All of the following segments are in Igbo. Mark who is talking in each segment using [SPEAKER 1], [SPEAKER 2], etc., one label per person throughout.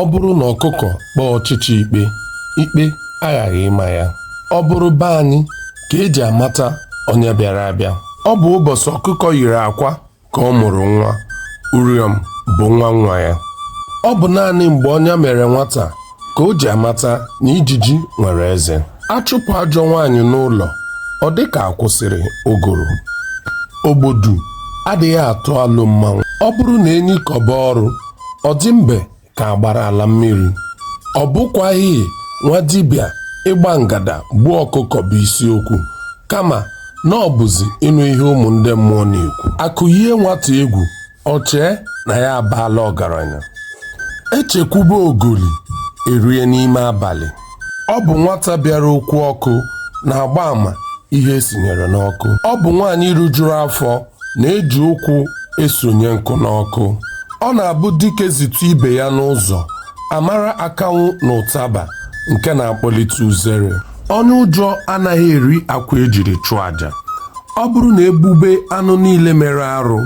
[SPEAKER 1] ọ bụrụ na ọkụkọ kpọọ ọchịcha ikpe ikpe aghaghị ịma ya ọ bụrụ be anyị ka e ji amata onye bịara abịa ọ bụ ụbọchị ọkụkọ yiri akwa ka ọ mụrụ nwa uriọm bụ nwa nwa ya ọ bụ naanị mgbe ọnya mere nwata ka o ji amata na ijiji nwere eze a chụpụ ajọ nwaanyị n'ụlọ ọ dị ka a kwụsịrị ụgụrụ ogbodu adịghị atụ alụ mmanwụ ọ bụrụ na enyi kọba ọrụ ọ dị mbe ka a gbara ala mmiri ọ bụkwaghị nwa dibịa ịgba ngada gbuo ọkụkọ bụ isiokwu kama na ọ bụzi ịnụ ihe ụmụ ndị mmụọ na-ekwu a kụyie nwata egwu o chee na ya abaala ọgaranya e chekwube ogoli e rie n'ime abalị ọ bụ nwata bịara okwu ọkụ na-agba àmà ihe e sinyere n'ọkụ ọ bụ nwaanyị rijuru afọ na-eji ụkwụ esonye nkụ n'ọkụ ọ na-abụ dike zute ibe ya n'ụzọ a mara akanwụ na ụtaba nke na-akpọlite uzere onye ụjọ anaghị eri akwa e jiri chụọ aja ọ bụrụ na e gbube anụ niile mere arụ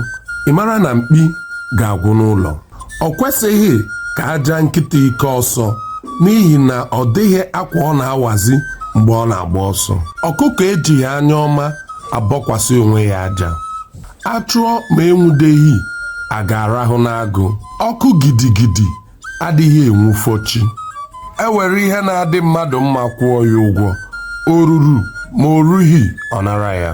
[SPEAKER 1] ị mara na mkpi ga-agwụ n'ụlọ o kwesịghị ka a jaa nkịta ike ọsọ n'ihi na ọ dịghị akwa ọ na-awazi mgbe ọ na-agba ọsọ ọkụkọ ejighị anya ọma abọkwasị onwe ya aja a chụọ ma enwudeghị a ga-arahụ n'agụ ọkụ gidigidi adịghị enwufo chi e were ihe na-adị mmadụ mma kwụọ ya ụgwọ o ruru ma o rughị ọ nara ya